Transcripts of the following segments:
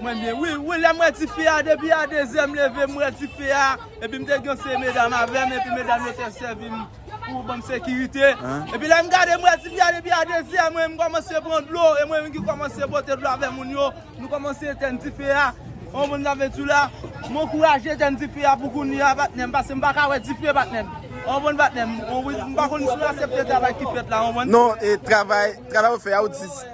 Mwen byen wi, wi lèm wè ti fi a depi a 2 zèm leve m wè ti fi a epi m te gen yon seri medam avèm epi medam yo te sèvim pou banm sekirite epi lèm gade m wè ti fi a depi a 2 zè mwen m kòmanse pran dlo e mwen menm ki kòmanse pote dlo avè moun yo nou kòmanse etèn ti fi a ou konn zafè tou la m ankouraje etèn ti fi a pou kounye a patnèm pase m paka wè dife patnèm ou konn patnèm m pa konn si ou asepte travay ki fèt la ou konn. Non travay travay ou fè a ou di.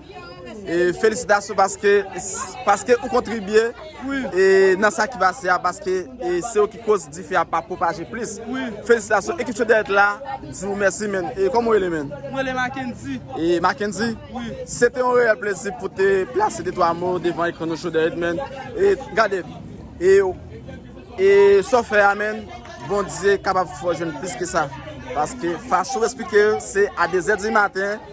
E felisitasyon paske paske ou kontribye e nan sa ki pase a paske e se ou ki koz dife a pa pwopaje plis. Felisitasyon ekip Chodyèt la di ou mèsi menn. E kòman ou rele menn? Mwen rele Mackendy. E Mackendy? Wi. Se te yon reyèl plezi pou te plase de twa mo devan ekran nou Chodyèt menn. E gade e ou e sa ou fè a menn Bondye kapab fè ou jwenn plis ke sa. Paske fason ou esplike yo se a dezè di maten.